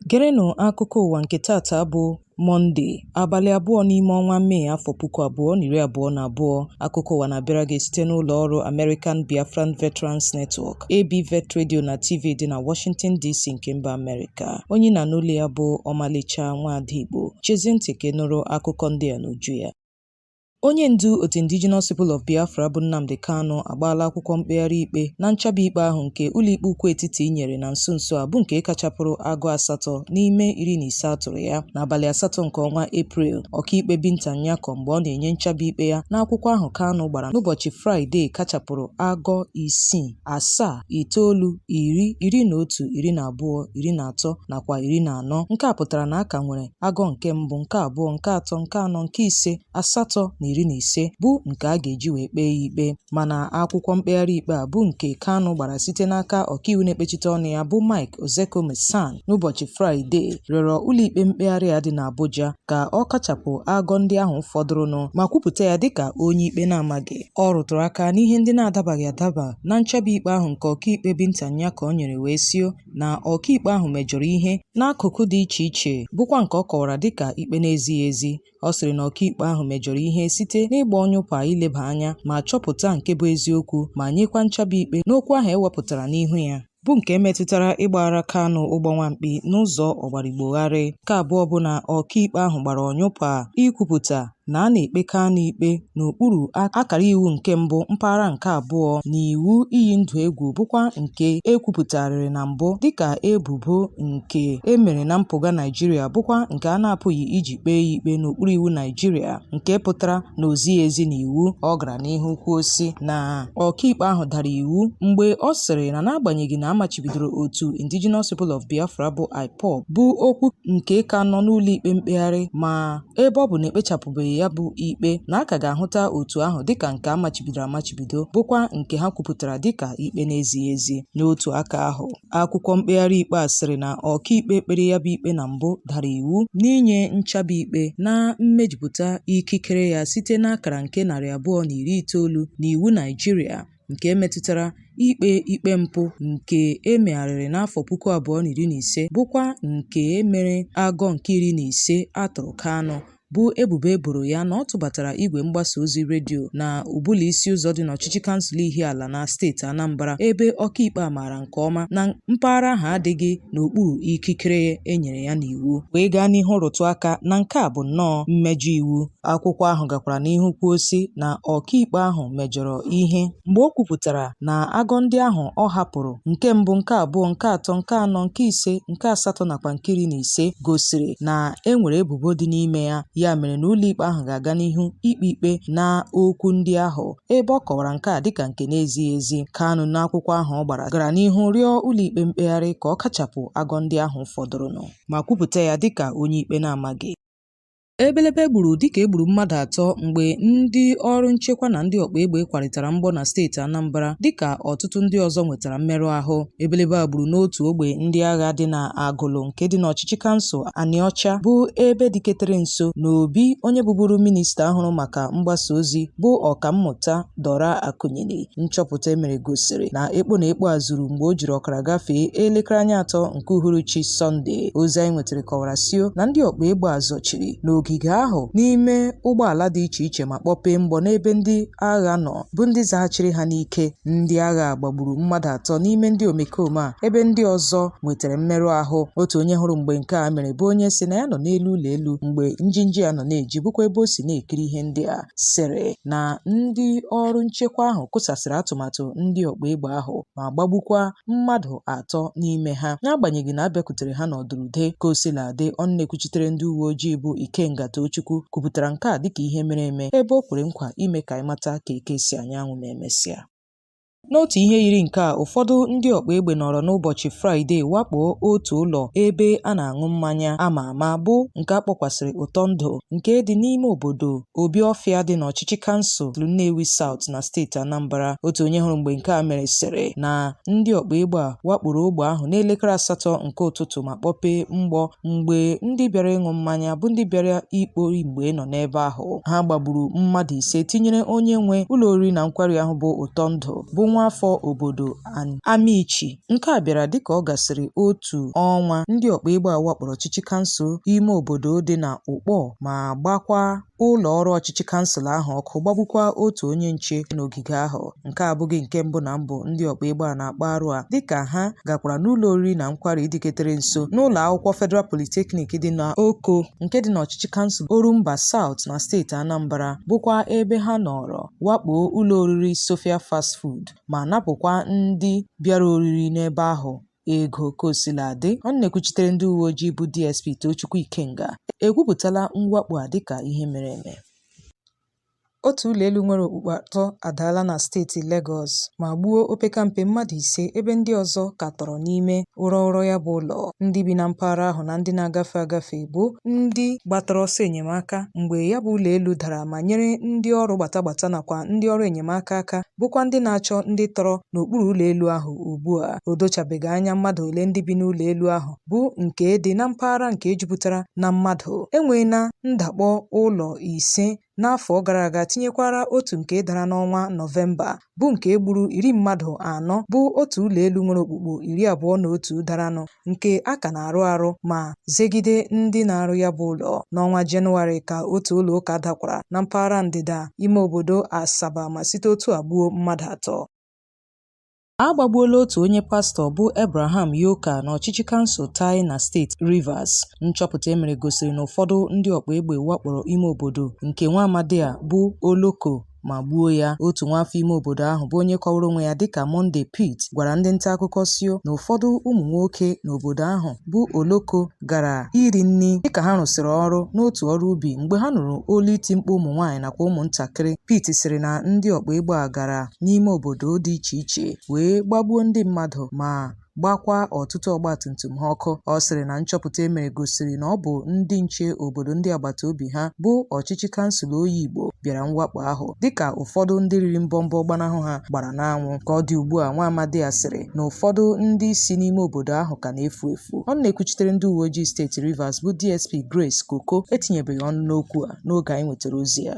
Gerenụ akụkọ ụwa nke tata bụ Mọnde, abalị abụọ n'ime ọnwa Mee afọ puku abụọ na iri abụọ na abụọ. Akụkọ ụwa na-abịara gị site n'ụlọ ọrụ American Biafran Veterans Network. AB Vet Radio na TV dị na Washington DC nke mba Amerịka. Onye ị na-anụ olu ya bụ Ọmalịcha Nwaada Igbo. Chezie ntị ka ị nụrụ akụkọ ndị a n'uju ya. Onye ndu otu Indigenous People of Biafra bụ Nnamdi Kanu agbaala akwụkwọ mkpegharị ikpe na nchaba ikpe ahụ nke Ụlọikpe Ukwu Etiti nyere na nso nso a bụ nke kachapụrụ agụ asatọ n'ime iri na ise a tụrụ ya n'abalị asatọ nke ọnwa Eprel. Ọkaikpe Binta Nyako mgbe ọ na-enye nchaba ikpe ya n'akwụkwọ ahụ Kanu gbara n'ụbọchị Fraịde kachapụrụ agụ isii asaa itoolu iri iri na otu iri na abụọ iri na atọ nakwa iri na anọ nke a pụtara na a ka nwere agụ nke mbụ nke abụọ nke atọ nke anọ nke ise asatọ na iri na ise bụ nke a ga-eji wee kpee ya ikpe mana akwụkwọ mkpegharị ikpe a bụ nke Kanu gbara site n'aka ọkaiwu na-ekpechite ọnụ ya bụ Mike Ozekhome SAN n'ụbọchị Fraịde rịọrọ ụlọikpe mkpegharị a dị n'Abuja ka ọ kachapụ agụ ndị ahụ fọdụrụnụ ma kwupụta ya dịka onye ikpe na-amaghị Ọ rụtụrụ aka n'ihe ndị na-adabaghị adaba na nchaba ikpe ahụ nke ọkaikpe Binta Nyako nyere wee sio na ọkaikpe ahụ mejọrọ ihe n'akụkụ dị iche iche bụkwa nke ọ kọwara dịka ikpe na-ezighị ezi. Ọ sịrị na ọkaikpe ahụ mejọrọ ihe site n'ịgba ọnyụpa ileba anya ma chọpụta nke bụ eziokwu ma nyekwa nchaba ikpe n'okwu ahụ e wepụtara n'ihu ya. bụ nke metụtara ịgbaghara Kanu ụgbọ nwamkpi n'ụzọ ọgbarigbogharị. Nke abụọ bụ na ọkaikpe ahụ gbara ọnyụpa ikwupụta na a na-ekpe Kanu ikpe n'okpuru akara iwu nke mbụ mpaghara nke abụọ na iwu iyi ndụ egwu bụkwa nke e kwupụtarịrị na mbụ dịka ebubo nke e mere na mpụga Naịjirịa bụkwa nke a na-apụghị iji kpee ya ikpe n'okpuru iwu Naịjirịa nke pụtara na o zighị ezi n'iwu. Ọ gara n'ihu kwuo sị na Ọkaikpe ahụ dara iwu mgbe ọ sịrị na n'agbanyeghị na a machibidoro otu Indigenous People of Biafra bụ IPOB bụ okwu nke ka nọ n'ụlọikpe mkpegharị ma ebe ọ bụ na ekpechapụbeghị ya bụ ikpe na a ka ga-ahụta otu ahụ dịka nke a machibidoro amachibido bụkwa nke ha kwupụtara dịka ikpe na-ezighị ezi n'otu aka ahụ. Akwụkwọ mkpegharị ikpe a sịrị na ọkaikpe kpere ya bụ ikpe na mbụ dara iwu n'inye nchaba ikpe na mmejupụta ikikere ya site n'akara nke narị abụọ na iri itoolu n'iwu Naịjirịa nke metụtara ikpe ikpe mpụ nke e megharịrị n'afọ puku abụọ na iri na ise bụkwa nke e mere agụ nke iri na ise a tụrụ Kanu bụ ebubo e boro ya na ọ tụbatara igwe mgbasa ozi redio na Ubulu Isiụzọ dị n'ọchịchị kansụl Ihiala na steeti Anambra ebe ọkaikpe a maara nke ọma na mpaghara ahụ adịghị n'okpuru ikikere e nyere ya n'iwu wee gaa n'ihu rụtụ aka na nke a bụ nnọọ mmejọ iwu akwụkwọ ahụ gakwara n'ihu kwuo sị na ọkaikpe ahụ mejọrọ ihe mgbe o kwupụtara na agọ ndị ahụ ọ hapụrụ nke mbụ nke abụọ nke atọ nke anọ nke ise nke asatọ nakwa nke iri na ise gosiri na e nwere ebubo dị n'ime ya ya mere na ụlọikpe ahụ ga-aga n'ihu ikpe ikpe na okwu ndị ahụ ebe ọ kọwara nke a dịka nke na-ezighị ezi Kanu n'akwụkwọ ahụ ọ gbara gara n'ihu rịọ ụlọikpe mkpegharị ka ọ kachapụ agọ ndị ahụ fọdụrụnụ ma kwupụta ya dịka onye ikpe na-amaghị Ebelebe gburu dịka e gburu mmadụ atọ mgbe ndị ọrụ nchekwa na ndị ọkpa egbe kwarịtara mgbọ na steeti Anambra dịka ọtụtụ ndị ọzọ nwetara mmerụ ahụ. Ebelebe a gburu n'otu ogbe ndị agha dị na Agụlụ nke dị n'ọchịchị kansụl Anịọcha bụ ebe dịketere nso n'obi onye bụburu minista ahụrụ maka mgbasa ozi bụ ọkammụta Dora Akunyili. Nchọpụta e mere gosiri na ekpo na ekpo a zuru mgbe o jiri ọkara gafee elekere anya atọ Nke uhuruchi Sọnde, ozi anyị nwetara kọwara sio na ndị ọkpa egbe a zọchiri n'ogige ahụ n'ime ụgbọala dị iche iche ma kpọpee mgbọ n'ebe ndị agha nọ bụ ndị zaghachiri ha n'ike. Ndị agha a gbagburu mmadụ atọ n'ime ndị omekome a ebe ndị ọzọ nwetara mmerụ ahụ. Otu onye hụrụ mgbe nke a mere bụ onye sị na ya nọ n'elu ụlọ elu mgbe njinji a nọ na-eji bụkwa ebe o si na-ekiri ihe ndị a sịrị na ndị ọrụ nchekwa ahụ kụsasịrị atụmatụ ndị ọkpa egbe ahụ ma gbagbukwa mmadụ atọ n'ime ha n'agbanyeghị na a bịakwutere ha n'ọdụrụde ka o sila dị ọnụ na-ekwuchitere ndị uwe ojii bụ Ikenga Tochukwu kwupụtara nke a dịka ihe mere eme ebe o kwere nkwa ime ka anyị mata ka eke si anya anwụ ma emesịa N'otu ihe yiri nke a, ụfọdụ ndị ọkpa egbe nọrọ n'ụbọchị Fraịde wakpoo otu ụlọ ebe a na-aṅụ mmanya a ma ama bụ nke a kpọkwasịrị Ụtọ Ndụ nke dị n'ime obodo Obiọfịa dị n'ọchịchị kansụl Nnewi South na steeti Anambra. Otu onye hụrụ mgbe nke a mere sịrị na ndị ọkpa egbe a wakporo ogbe ahụ n'elekere asatọ nke ụtụtụ ma kpọpee mgbọ mgbe ndị bịara ịṅụ mmanya bụ ndị bịara ikpori mgbe nọ n'ebe ahụ. Ha gbagburu mmadụ ise tinyere onye nwe ụlọ oriri na nkwari ahụ bụ Ụtọ Ndụ bụ nwaafọ obodo Amichi. Nke a bịara dịka ọ gasịrị otu ọnwa ndị ọkpa egbe a wakporo ọchịchị kansụl ime obodo dị na Ụkpọ ma gbakwa ụlọ ọrụ ọchịchị kansụl ahụ ọkụ gbagbukwa otu onye nche n'ogige ahụ. Nke a abụghị nke mbụ na mbụ ndị ọkpa egbe a na-akpa arụ a dịka ha gakwara n'ụlọ oriri na nkwari dịketere nso n'ụlọ akwụkwọ Federal Polytechnic dị na Oko nke dị n'ọchịchị kansụl Orumba Saụt na steeti Anambra bụkwa ebe ha nọrọ wakpoo ụlọ oriri Sofia Fast Food ma napụkwa ndị bịara oriri n'ebe ahụ ego kosiladị ọnụ na-ekwuchitere ndị uwe ojii bụ DSP Tochukwu Ikenga ekwupụtala mwakpo a dịka ihe mere eme Otu ụlọ elu nwere okpukpu atọ adaala na steeti Legọs ma gbuo opekampe mmadụ ise ebe ndị ọzọ ka tọrọ n'ime ụrọ ụrọ ya bụ ụlọ. Ndị bi na mpaghara ahụ na ndị na-agafe agafe bụ ndị gbatara ọsọ enyemaka mgbe ya bụ ụlọ elu dara ma nyere ndị ọrụ gbatagbata nakwa ndị ọrụ enyemaka aka bụkwa ndị na-achọ ndị tọrọ n'okpuru ụlọ elu ahụ ugbu a. O dochabeghị anya mmadụ ole ndị bi n'ụlọ elu ahụ, bụ nke dị na mpaghara nke jupụtara na mmadụ. E nweela ndakpọ ụlọ ise n'afọ gara aga tinyekwara otu nke dara n'ọnwa Nọvemba, bụ nke gburu iri mmadụ anọ, bụ otu ụlọ elu nwere okpukpu iri abụọ na otu daranụ nke a ka na-arụ arụ ma zegide ndị na-arụ ya bụ ụlọ. N'ọnwa Jenụwarị ka otu ụlọ ụka dakwara na mpaghara ndịda ime obodo Asaba ma site otu a gbuo mmadụ atọ. A gbagbuola otu onye pastọ bụ Abraham Yoka n'ọchịchị kansụl Tai na steeti Rivers. Nchọpụta e mere gosiri na ụfọdụ ndị ọkpa egbe wakporo ime obodo nke nwa amadi a bụ Oloko ma gbuo ya. Otu nwaafọ ime obodo ahụ bụ onye kọwara onwe ya dịka Monday Pete gwara ndị ntaakụkọ sio na ụfọdụ ụmụnwoke n'obodo ahụ bụ Oloko gara iri nri dịka ha rụsịrị ọrụ n'otu ọrụ ubi mgbe ha nụrụ olu iti mkpu ụmụnwaanyị nakwa ụmụntakịrị. Pete sịrị na ndị ọkpa egbe a gara n'ime obodo dị iche iche wee gbagbuo ndị mmadụ ma gbakwa ọtụtụ ọgbatumtum ha ọkụ ọ sịrị na nchọpụta e mere gosiri na ọ bụ ndị nche obodo ndị agbata obi ha bụ ọchịchị kansụl Oyigbo bịara mwakpo ahụ dịka ụfọdụ ndị riri mbọmbọ gbanahụ ha gbara n'anwụ ka ọ dị ugbu a nwa amadi a sịrị na ụfọdụ ndị si n'ime obodo ahụ ka na-efu efu ọnụ na-ekwuchitere ndị uwe ojii steeti Rivers bụ DSP Grace Koko etinyebeghị ọnụ n'okwu a n'oge anyị nwetara ozi a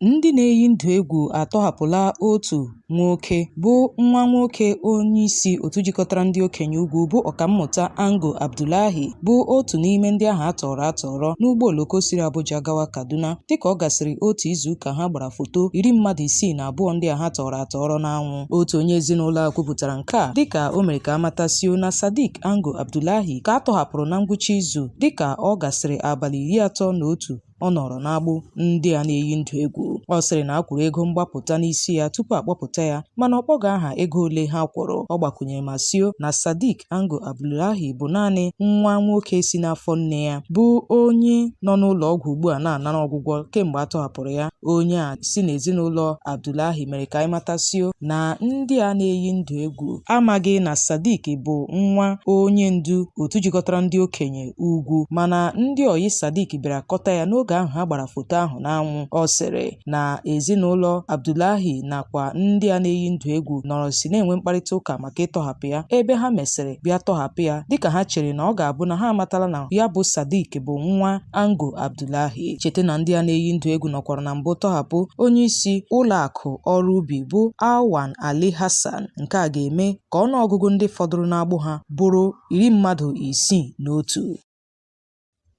Ndị na-eyi ndụ egwu atọhapụla otu nwoke bụ nwa nwoke onyeisi otu jikọtara ndị okenye ugwu bụ Ọkammụta Ango Abdullahi bụ otu n'ime ndị ahụ a tọọrọ atọrọ n'ụgbọ oloko siri Abuja gawa Kaduna dịka ọ gasịrị otu izuụka ha gbara foto iri mmadụ isii na abụọ ndị a ha tọọrọ atọrọ n'anwụ. Otu onye ezinụlọ a kwupụtara nke a dịka o mere ka a mata sio na Sadiq Ango Abdullahi ka a tọhapụrụ na ngwụcha izu dịka ọ gasịrị abalị iri atọ na otu ọ nọrọ n'agbụ ndị a na-eyi ndụ egwu ọ sịrị na a kwụrụ ego mgbapụta n'isi ya tupu a kpọpụta ya mana ọ kpọghị aha ego ole ha kwụrụ ọ gbakwunyere ma sio na Sadiq Ango Abdullahi bụ naanị nwa nwoke si n'afọ nne ya bụ onye nọ n'ụlọ ọgwụ ugbu a na-anara ọgwụgwọ kemgbe a tọhapụrụ ya onye a si n'ezinụlọ Abdullahi mere ka anyị mata sio na ndị a na-eyi ndụ egwu amaghị na Sadiq bụ nwa onye ndu otu jikọtara ndị okenye ugwu mana ndị ọyị Sadiq bịara kọta ya n'oge ahụ ha gbara foto ahụ n'anwụ ọ sịrị na ezinụlọ Abdullahi nakwa ndị a na-eyi ndụ egwu nọrọ si na-enwe mkparịta ụka maka ịtọhapụ ya ebe ha mesịrị bịa tọhapụ ya dịka ha chere na ọ ga-abụ na ha amatala na ya bụ Sadiq bụ nwa Ango Abdullahi cheta na ndị a na-eyi ndụ egwu nọkwara na mbụ tọhapụ onye isi ụlọ akụ ọrụ ubi bụ Awan Ali Hassan nke a ga-eme ka ọnụọgụgụ ndị fọdụrụ n'agbụ ha bụrụ iri mmadụ isii na otu.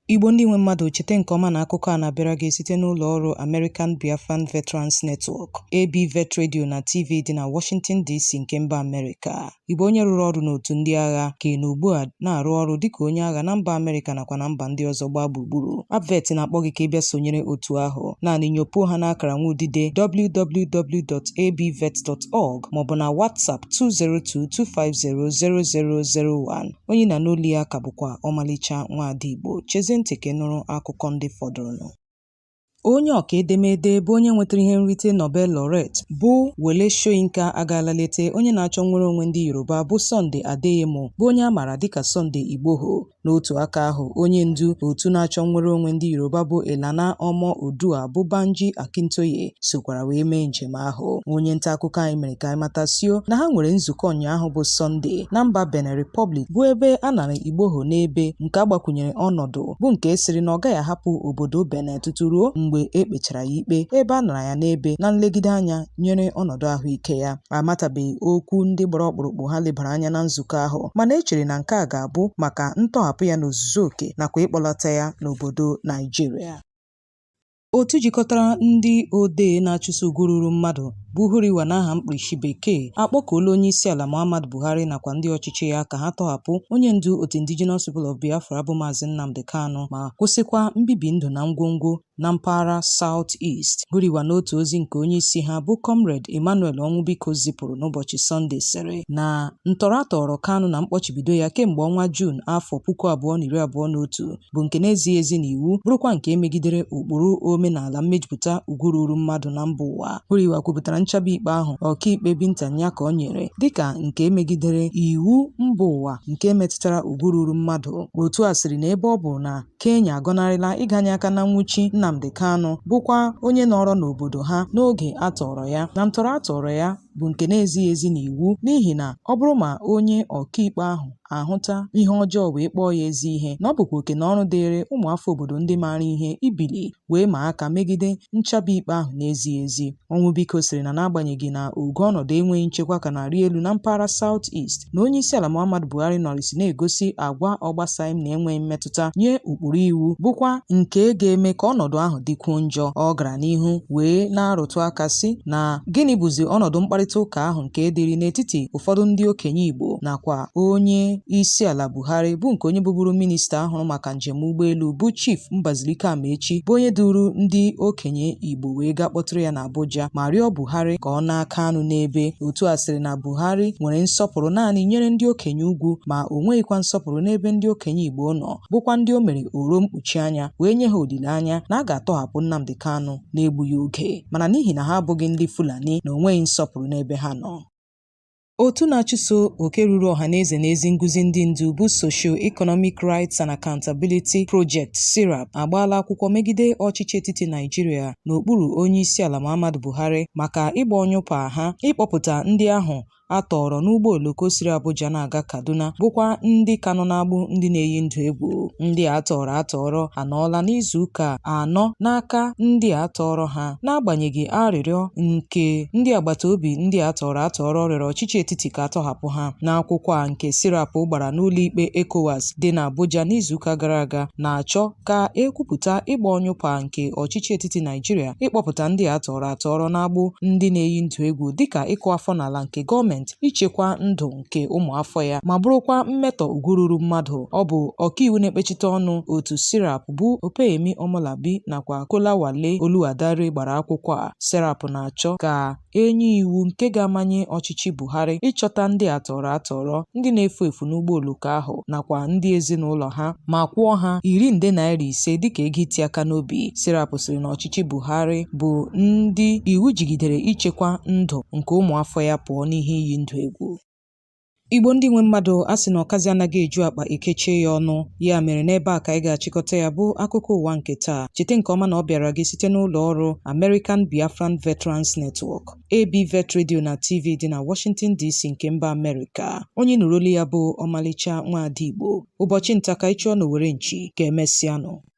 Igbo ndị nwe mmadụ chete nke ọma na akụkọ a na-abịara gị site n'ụlọ ọrụ American Biafran Veterans Network, ABVET Radio na TV dị na Washington DC nke mba Amerịka. Ị bụ onye rụrụ ọrụ n'otu ndị agha ka ị nọ ugbu a na-arụ ọrụ dịka onye agha na mba Amerịka nakwa na mba ndị ọzọ gbaa gburugburu. ABVET na-akpọ gị ka ị bịa sonyere otu ahụ. Naanị nyopuo ha n'akara nwa udide www.abvet.org maọbụ na WhatsApp 202-250-0001. Onye ị na-anụ olu ya ka bụkwa ọmalịcha nwaada Igbo. Chezie ntị ka ị nụrụ akụkọ ndị fọdụrụnụ. Onye ọka edemede bụ onye nwetara ihe nrite Nobel laureate bụ Wole Soyinka agaala lete onye na-achọ nnwere onwe ndị Yoruba bụ Sunday Adeyemo bụ onye a maara dịka Sunday Igboho. N'otu aka ahụ, onye ndu otu na-achọ nnwere onwe ndị Yoruba bụ Ilana Omo Oodua bụ Banji Akintoye sokwara wee mee njem ahụ. Onye nta akụkọ anyị mere ka anyị mata sio na ha nwere nzukọ ụnyaahụ bụ Sọnde na mba Benin Republic bụ ebe a nara Igboho n'ebe nke a gbakwunyere ọnọdụ bụ nke sịrị na ọ gaghị ahapụ obodo Benin tutu ruo mgbe e kpechara ya ikpe ebe a nara ya n'ebe na nlegide anya nyere ọnọdụ ahụike ya. amatabeghị okwu ndị gbara ọkpụrụkpụ ha lebara anya na nzukọ ahụ mana e chere na nke a ga-abụ maka ntọhapụ ya n'ozuzu oke nakwa ịkpọlata ya n'obodo Naijiria otu jikọtara ndị odee na-achụso ugwu ruru mmadụ bụ Huriwa n'aha mkpirisi bekee akpọkuola onyeisiala Muhammadu Buhari nakwa ndị ọchịchị ya ka ha tọhapụ onye ndu otu Indigenous People of Biafra bụ Maazị Nnamdi Kanu ma kwụsịkwa mbibi ndụ na ngwongwo na mpaghara South East Huriwa n'otu ozi nke onye isi ha bụ Comrade Emmanuel Ọnwụbiko zipụrụ n'ụbọchị Sọnde sịrị na ntọrọ a tọrọ Kanu na mkpọchibido ya kemgbe ọnwa Juun afọ puku abụọ na iri abụọ na otu bụ nke na-ezighị ezi n'iwu bụrụkwa nke megidere ụkpụrụ omenala mmejupụta ugwu ruru mmadụ na mba ụwa Huriwa kwupụtara nchaba ikpe ahụ ọkaikpe Binta Nyako nyere dịka nke megidere iwu mba ụwa nke metụtara ugwu ruru mmadụ otu a sịrị na ebe ọ bụ na Kenya agọnarịla ịganye aka na nwụchi Nnamdi Kanu bụkwa onye nọrọ n'obodo ha n'oge a tọọrọ ya na ntọrọ a tọọrọ ya bụ nke na-ezighị ezi n'iwu n'ihi na ọ bụrụ ma onye ọkaikpe ahụ ahụta ihe ọjọọ wee kpọọ ya ezi ihe na ọ bụkwa oke na ọrụ dịịrị ụmụafọ obodo ndị maara ihe ibili wee maa aka megide nchaba ikpe ahụ na-ezighị ezi Onwubiko sịrị na n'agbanyeghị na ogo ọnọdụ enweghị nchekwa ka na-arị elu na mpaghara South East, na onyeisiala Muhammadu Buhari nọrịsị na-egosi agwa ọ gbasaghị m na enweghị mmetụta nye ụkpụrụ iwu bụkwa nke ga-eme ka ọnọdụ ahụ dịkwuo njọ. Ọ gara n'ihu wee na-arụtụ aka sị na gịnị bụzi ọnọdụ mkparịta ụka ahụ nke dịrị n'etiti ụfọdụ ndị okenye Igbo nakwa onye isi ala Buhari bụ nke onye bụburu minista hụrụ maka njem ụgbọelu bụ Chief Mbazilike Amaechi bụ onye duru ndị okenye Igbo wee gaa kpọtụrụ ya n'Abuja ma rịọ Buhari ka ọ naa Kanu n'ebe. Otu a sịrị na Buhari nwere nsọpụrụ naanị nyere ndị okenye ugwu ma o nweghịkwa nsọpụrụ n'ebe ndị okenye Igbo nọ bụkwa ndị o mere oro mkpuchi anya wee nye ha olileanya na a ga-atọhapụ Nnamdi Kanu n'egbughị oge mana n'ihi na ha abụghị ndị Fulani na o nweghị nsọpụrụ n'ebe ha nọ. Otu na-achụso oke ruru ọha na eze na ezi nguzi ndị ndu bụ Socio-Economic Rights and Accountability Project, SERAP, agbaala akwụkwọ megide ọchịchị etiti Naịjirịa n'okpuru Onyeisiala Muhammadu Buhari maka ịgba ọnyụpa ha ịkpọpụta ndị ahụ a tọọrọ n'ụgbọ oloko siri Abuja na-aga Kaduna bụkwa ndị ka nọ n'agbụ ndị na-eyi ndụ egwu. Ndị a tọọrọ atọọrọ anọọla n'izuụka anọ n'aka ndị a tọọrọ ha. n'agbanyeghị arịrịọ nke ndị agbata obi ndị a tọrọ atọrọ rịọrọ ọchịchị etiti ka a tọhapụ ha n'akwụkwọ a nke SERAP gbara n'ụlọikpe ECOWAS dị n'Abuja n'izuụka gara aga na-achọ ka e kwupụta ịgba ọnyụpa nke ọchịchị etiti Naijiria ịkpọpụta ndị a tọrọ atọrọ n'agbụ ndị na-eyi ndụ egwu dịka ịkụ afọ n'ala nke gọọmenti ichekwa ndụ nke ụmụafọ ya ma bụrụkwa mmetọ ugwu ruru mmadụ. Ọ bụ ọkaiwu na-ekpechite ọnụ otu SERAP bụ Opeyemi Omolabi nakwa Kolawole Oluwadare gbara akwụkwọ a. SERAP na-achọ ka e nye iwu nke ga-amanye ọchịchị Buhari ịchọta ndị a tọrọ atọrọ, ndị na-efu efu n'ụgbọ oloko ahụ nakwa ndị ezinụlọ ha ma kwụọ ha iri nde naira ise dịka ego iti aka n'obi. SERAP sịrị na ọchịchị ọchịchị Buhari bụ ndị iwu jigidere ichekwa ndụ nke ụmụafọ ya pụọ n'ihe iyi ndụ egwu. Igbo ndị nwe mmadụ a sị na ọkazi anaghị eju akpa e kechie ya ọnụ ya mere n'ebe a ka anyị ga-achịkọta ya bụ akụkọ ụwa nke taa cheta nke ọma na ọ bịara gị site n'ụlọ ọrụ American Biafran Veterans Network AB Vet Radio na TV dị na Washington DC nke mba Amerịka onye nụrụ olu ya bụ ọmalịcha nwaada Igbo ụbọchị nta ka ị chụọ n'owere nchi ka emesịanụ